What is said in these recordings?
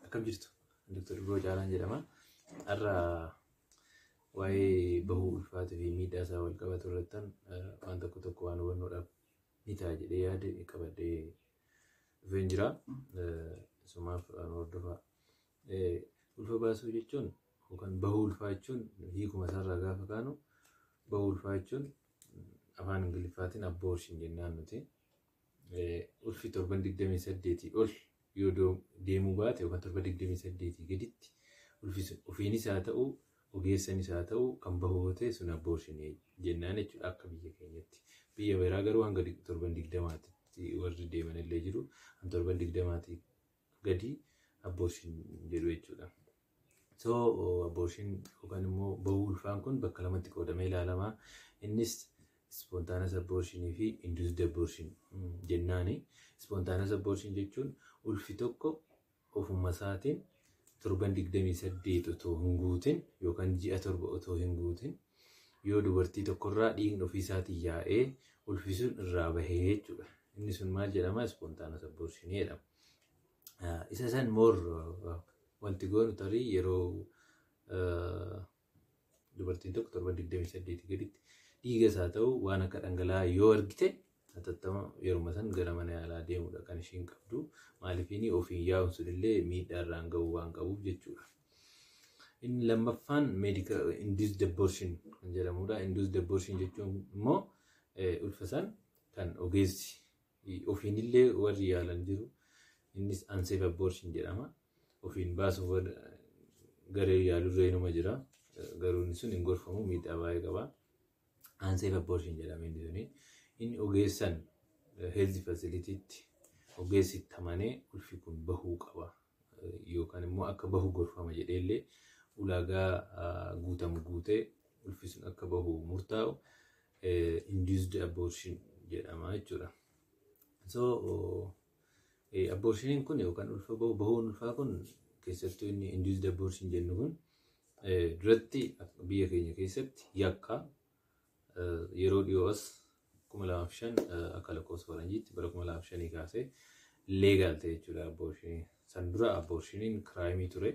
Akkam jirtu? Dr. Biroo Caalaan jedhama. Har'a waa'ee bahuu ulfaatuu fi miidhaa isaa wal qabatu irrattan waan tokko tokko waan hubannoodhaaf ni ta'a jedhee yaade qabadhee dhufeen jira. Sumaaf hordofaa. Ulfa baasuu jechuun yookaan bahuu ulfaa jechuun hiikuma isaarraa gaafa kaanu bahuu ulfaa jechuun afaan ingiliffaatiin abortion jennaan nuti ulfi torban 28 ol yoo deemuu baate yookaan torba 28 gaditti ulfi sun ofiinis haa ta'u ogeessanis haa ta'u kan bahu yoo ta'e sun abortion jennaan jechuudha akka biyya keenyatti. Biyya biraa garuu hanga torban 20tti warri deeman illee jiru. Kan torban 20tti gadi abortion jedhu jechuudha. So abortion yookaan immoo bahuu ulfaan kun bakka lamatti qoodamee ilaalama. Innis spontaanous abortion fi induced abortion jennaani. Spontaanous abortion jechuun ulfi tokko ofuma isaatiin torban 28 otoo hin guutin yookaan ji'a torba otoo hin guutin Yoo dubartii tokkorraa dhiigni ofiisaatiin yaa'ee ulfi sun irraa bahee jechuudha. Inni sun maal jedhama? Ispoontaanus abborshinii jedhama. Isa san moor wanti goonu tarii yeroo dubartiin tokko torban 28 gaditti dhiigas haa ta'u waan akka dhangala'aa yoo argite Hatattama yeruma san gara mana yaalaa deemuudha kan ishiin qabdu. Maalifiinii ofiin yaa'uun sunillee miidhaa irraan ga'uu waan qabuuf jechuudha. Inni lammaffaan meedika induced abortion kan jedhamudha. Induced abortion jechuun immoo ulfa san kan ogeessi ofiinillee warri yaalan jiru. Innis unsafe abortion jedhama. Ofiin baasuuf garee yaalurree numa jira. Garuu inni sun hin gorfamu miidhaa baay'ee qaba. Unsafe abortion jedhama inni suni. Inni ogeessan health facilitytti ogeessi itti amanee ulfi kun bahuu qaba yookaan immoo akka bahu gorfama jedhee illee ulaagaa guutamu guutee ulfi sun akka bahu murtaa'u induced abortion jedhama jechuudha. So Abboorshiniin kun yookaan ulfa bahu bahuun ulfaa kun keessattuu inni induced abortion jennu kun duratti biyya keenya keessatti yakka yeroo dhiyoo as 2005 akka lakkoofsa faranjiitti bara 2005 kaasee leegaal ta'e jechuudha abboorshiniin. San dura abboorshiniin kiraayimii ture.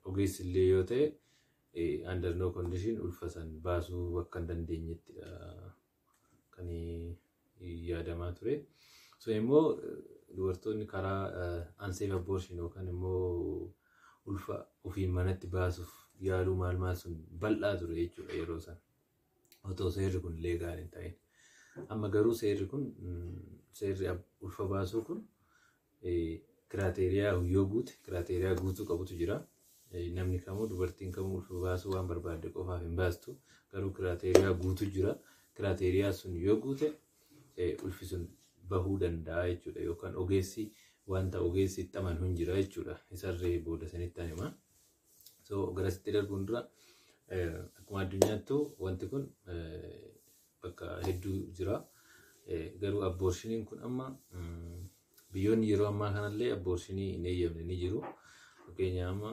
Ogeessi illee yoo ta'e under no condition ulfa san baasuu akka hin dandeenyetti kan yaadamaa ture. So immoo dubartoonni karaa unsafe abortion yookaan immoo ulfa ofiin manatti baasuuf yaaluu maal maal sun bal'aa ture jechuudha yeroo sana. Otoo seerri kun leegaal hin ta'in. Amma garuu seerri kun seerri ulfa baasuu kun kiraateeriyaa yoo guute kiraateeriyaa guutuu qabutu jira. Namni kamuu dubartiin kamuu ulfa baasuu waan barbaadde qofaaf hin baastu garuu kiraateeriyaa guutu jira. Kiraateeriyaa sun yoo guute ulfi sun bahuu danda'a jechuudha yookaan ogeessi wanta ogeessi itti amanu hin jira jechuudha. Isarree booda sanitti ani hima. So garasitti darbuun dura akkuma addunyaattu wanti kun bakka hedduu jira. Garuu abboorshiniin kun amma biyyoonni yeroo ammaa kanallee abboorsinii hin eeyyamne ni jiru. Fakkeenyaaf amma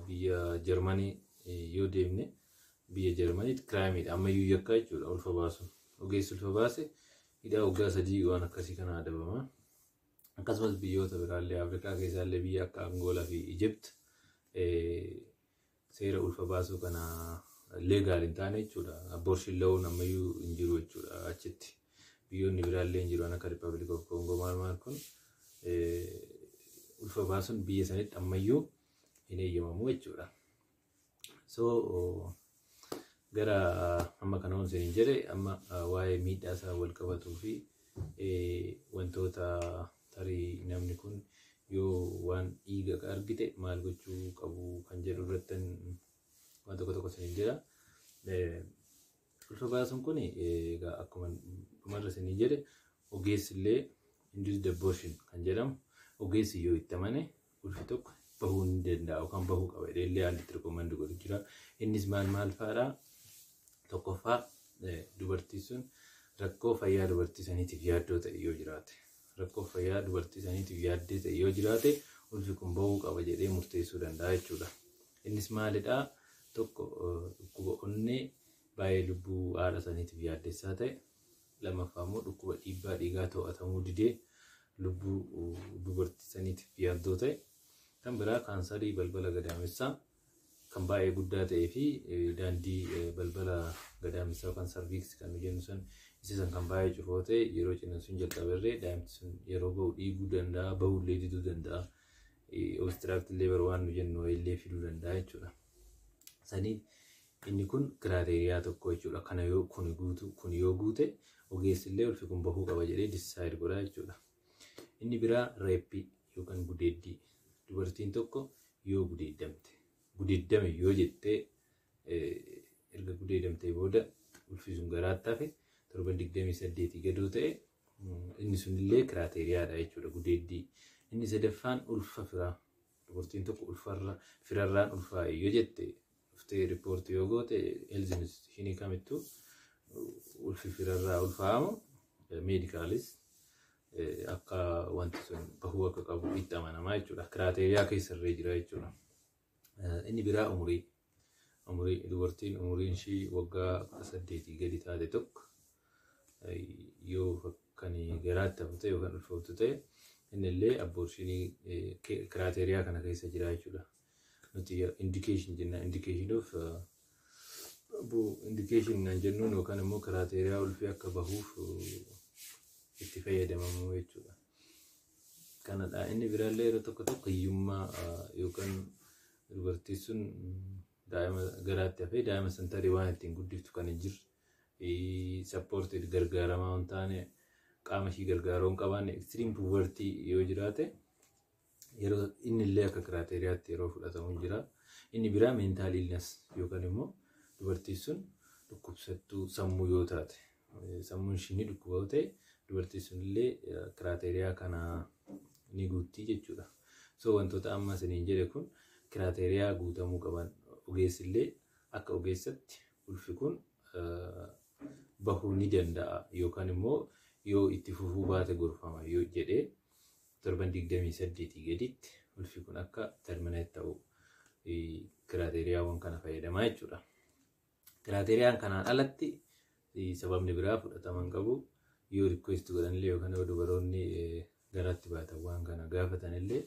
biyya Jarmanii yoo deemne biyya Jarmaniitti kiraayimiidha. Ammayyuu yakkaa jechuudha ulfa baasu. Ogeessi ulfa baase hidhaa waggaa sadii waan akkasii kana adabama. Akkasumas biyyoota biraallee Afrikaa keessaallee biyya akka Angoolaa fi Ijipt seera ulfa baasuu kana leegaal hin taane jechuudha. Abortion lawuun ammayyuu hin jiru jechuudha achitti. Biyyoonni biraallee hin jiru akka Republic of Congo maal maal kun ulfa baasuun biyya sanitti ammayyuu hin eeyyamamu jechuudha. So gara amma kana waan isin jedhe amma waa'ee miidhaa isaa wal qabatuu fi wantoota Tarii namni kun yoo waan dhiiga argite maal gochuu qabu kan jedhu irrattan waan tokko tokko isiniin jedha. Ulfa baasuun kun egaa akkuma dhumarra isinii jedhe ogeessi illee induced abortion kan jedhamu ogeessi yoo itti amane ulfi tokko bahuu hin danda'a yookaan bahuu qaba jedhee illee haalli itti rikoomandi godhu jira. Innis maal maal fa'aadha? Tokkoffaa dubartii sun rakkoo fayyaa dubartii saniitiif yaaddoo ta'e yoo jiraate rakkoo fayyaa dubartii saniitiif yaaddee ta'e yoo jiraate ulfi kun bahuu qaba jedhee murteessuu danda'a jechuudha. Innis maalidha? Tokko dhukkuba onnee baay'ee lubbuu haadha saniitiif yaaddessaa ta'e Lamaffaa immoo dhukkuba dhiibbaa dhiigaa to'atamuu didee lubbuu dubartii saniitiif yaaddoo ta'e. Kan biraa kaansarii balbala gadaamessaa kan baay'ee guddaa ta'ee fi daandii balbala gadaamessaa yookaan sarviiksi kan nu jennu san isa san kan baay'ee cufu yoo ta'e yeroo ciniinsuun jalqaberree daa'imti sun yeroo ba'u dhiiguu danda'a ba'ullee diduu danda'a. Obstiraakti leebar waan nu jennu illee fiduu danda'a jechuudha. Saniif Inni kun kiraateeriyaa tokko jechuudha. Kana yoo kuni guutu kuni yoo guute ogeessi illee ulfi kun bahuu qaba jedhee decide godha jechuudha. Inni biraa reeppii yookaan gudeeddii. Dubartiin tokko yoo gudeeddamte gudeeddame yoo jettee erga gudeedamtee booda ulfi sun garaatti hafe torban 28 gadoo ta'e inni sunillee kiraateeriyaadha jechuudha gudeeddii. Inni sadaffaan ulfa firaa Dubartiin tokko ulfarra firarraan ulfaa'e yoo jette dhuftee riippoortii yoo goote health institutionii kamittuu ulfi firarraa ulfaa'amu meedikaalis akka wanti sun bahuu akka qabu itti amanamaa jechuudha. Kiraateeriyaa keessa irree jira jechuudha. Inni biraa umurii. Umurii dubartiin umuriin ishii waggaa 18 gadi taate tokko yoo kan garaatti hafu ta'e yookaan ulfooftu ta'e inni illee abboorshinii kiraateriyaa kana keessa jira jechuudha. Nuti indikeeshin jenna indikeeshin of indikeeshin naan jennuun yookaan immoo kiraateriyaa ulfii akka bahuuf itti fayyadamamu jechuudha. Kanadha inni biraallee yeroo tokko tokko hiyyummaa yookaan Dubartiin sun daa'ima garaatti hafee daa'ima san tarii waan ittiin guddiftu kan hin jirre sappoortiif gargaaramaa hin taane qaama ishii gargaaruu hin qabaanne ekstiriim puuvartii yoo jiraate yeroo inni illee akka kiraateeriyaatti yeroo fudhatamu hin jira. Inni biraa meentaal ilnas yookaan immoo dubartiin sun dhukkubsattuu sammuu yoo taate sammuun ishii ni dhukkuba yoo ta'e dubartiin sunillee kiraateriyaa kana ni guuttii jechuudha. So wantoota amma isiniin jedhe kun kiraateriyaa guutamuu qaban ogeessillee akka ogeessatti ulfi kun bahuu ni danda'a yookaan immoo yoo itti fufuu baate gorfama yoo jedhee torban 28 gaditti ulfi kun akka terminate ta'u kiraateriyaawwan kana fayyadamaa jechuudha. Kiraateeriyaan kanaan alatti sababni biraa fudhatama hin qabu. Yoo rikweesti godhanillee yookaan yoo dubaroonni garaatti baatan waan kana gaafatanillee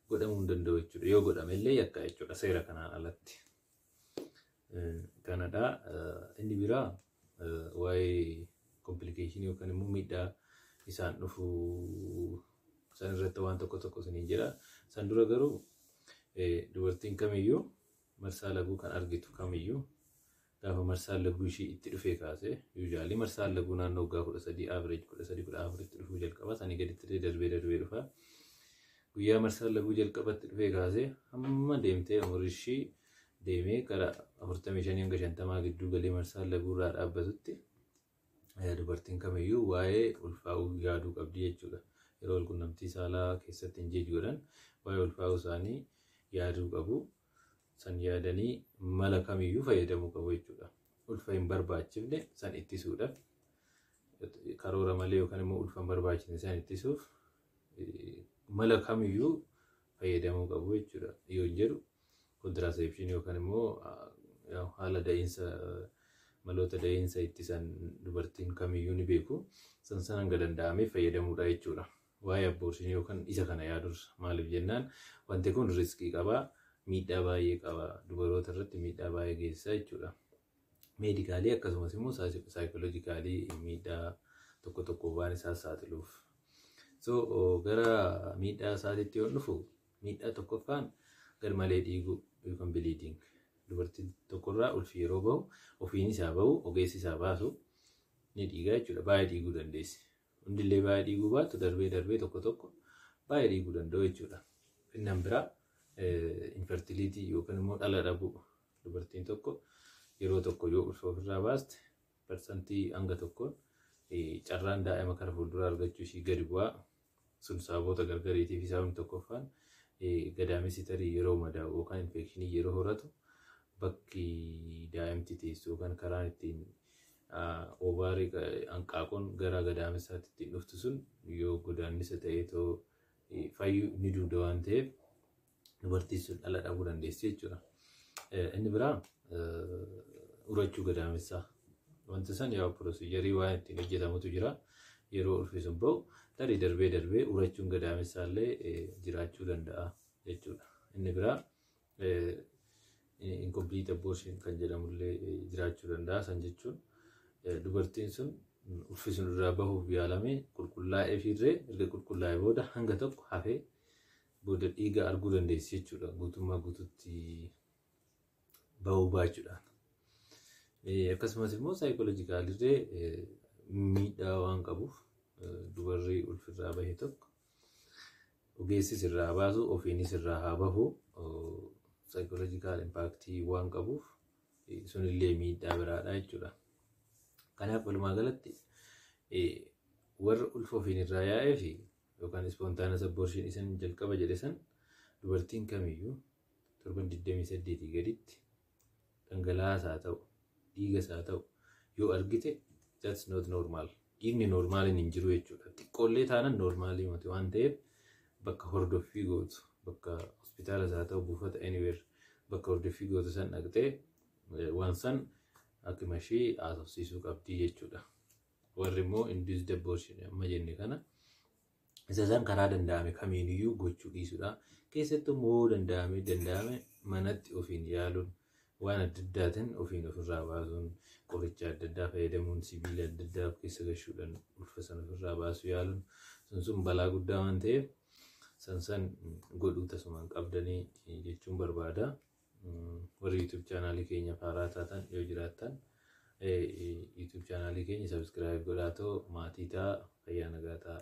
godhamuu hin danda'u jechuudha. Yoo godhamellee yakka jechuudha seera kanaan alatti. Kanadha. Inni biraa waa'ee komplikeeshinii yookaan immoo miidhaa isaan dhufu san irratti waan tokko tokko isiniin jedha. San dura garuu dubartiin kamiyyuu Marsaa laguu kan argitu kamiyyuu gaafa marsaan laguu ishii itti dhufee kaasee usually marsaan laguu naannoo waggaa 13 average 13 14 itti dhufuu jalqaba sanii gaditti illee darbee darbee dhufa guyyaa marsaan laguu jalqabatti dhufee kaasee hamma deemtee umurii ishii deemee gara 45 hanga 50 gidduu galee marsaan laguu irraa dhaabbatutti dubartiin kamiyyuu waa'ee ulfaa'uu yaaduu qabdi jechuudha. Yeroo walqunnamtii saalaa keessatti ingeej godhan waa'ee ulfaa'uu isaanii yaaduu qabu. San yaadanii mala kamiyyuu fayyadamuu qabu jechuudha. Ulfa hin barbaachifne san ittisuudhaaf karoora malee yookaan immoo ulfa hin barbaachifne san ittisuuf mala kamiyyuu fayyadamuu qabu jechuudha yoon jedhu kontiraaseepshinii yookaan immoo haala da'iinsa maloota da'iinsa ittisan dubartiin kamiyyuu ni beeku san san hanga danda'ame fayyadamuudha jechuudha. Waa'ee abboorsinii yookaan isa kana yaadursa maaliif jennaan wanti kun riskii qaba miidhaa baay'ee qaba dubaroota irratti miidhaa baay'ee geessisa jechuudha. meedikaalii akkasumas immoo saayikoloojikaalii miidhaa tokko tokko waan isaa saaxiluuf. So gara miidhaa isaatiitti yoo dhufu miidhaa tokkoffaan garmalee dhiiguu yookaan biliidiing dubartii tokkorraa ulfi yeroo bahu ofiin isaa bahu ogeessi isaa baasu ni dhiigaa jechuudha baay'ee dhiiguu dandeessi. Hundillee baay'ee dhiiguu baatu darbee darbee tokko tokko baay'ee dhiiguu danda'u jechuudha. Innan biraa infertiliitii yookaan immoo dhala dhabuu Dubartiin tokko yeroo tokko yoo ulfa ofirraa baaste parsantii hanga tokkoon carraan daa'ima kara fuulduraa argachuu ishii gadi bu'aa sun sababoota gargariitiif sababni tokkoffaan gadaamessi tarii yeroo madaa'u yookaan infekshinii yeroo horatu bakki daa'imti teessu yookaan karaan ittiin oovaarii hanqaaquun gara gadaamessaatti ittiin dhuftu sun yoo godaannisa ta'ee too fayyuu ni duuda waan ta'eef dubartiin sun dhala dhabuu dandeessi jechuudha. Inni biraa urachuu gadaamessaa. Wanti san yaa pirosiijarii waan ittiin hojjetamutu jira. Yeroo ulfi sun ba'u tarii darbee darbee urachuun gadaamessaa illee jiraachuu danda'a jechuudha. Inni biraa incomplete abortion kan jedhamu illee jiraachuu danda'a. San jechuun dubartiin sun ulfi sun irraa bahuuf yaalamee qulqullaa'ee fiirree erga qulqullaa'ee booda hanga tokko hafee booda dhiiga arguu dandeessi jechuudha guutummaa guututti ba'uu baachuudhaan. Akkasumas immoo saayikoolojikaalillee miidhaa waan qabuuf dubarri ulfirraa bahe tokko ogeessis irraa baasu ofiinis irraa haa bahu saayikoolojikaal impaaktii waan qabuuf sunillee miidhaa biraadha jechuudha. Kanaaf walumaa galatti warra ulfa ofiin irraa yaa'ee fi yookaan spontaneous abortion isan jalqaba jedhe san dubartiin kamiyyuu torban 28 gaditti dhangala'aas haa ta'u dhiigas haa ta'u yoo argite that's not normal dhiigni normaaliin hin jiru jechuudha xiqqoollee taanan normaalii mati waan ta'eef bakka hordoffii gootu bakka hospitaalas haa ta'u buufata anywhere bakka hordoffii gootu san dhaqxee waan san akkuma ishee haasofsiisuu qabdii jechuudha. Warri immoo induced abortion amma jenne kana isa san karaa danda'ame kamiiniyyuu gochuu dhiisudha. Keessattuu immoo yoo danda'ame danda'ame manatti ofiin yaaluun waan adda addaatiin ofiin ofirraa baasuun qoricha adda addaa fayyadamuun sibiila adda addaa of keessa gashuudhaan ulfa sana ofirraa baasuu yaaluun sun sun balaa guddaa waan ta'eef san san godhuu tasumaan qabdanii jechuun barbaada. Warri YouTube chaanaalii keenyaaf haaraa taatan yoo jiraattan YouTube chaanaalii keenya subscribe godhaatoo maatii ta'a fayyaa nagaa ta'a.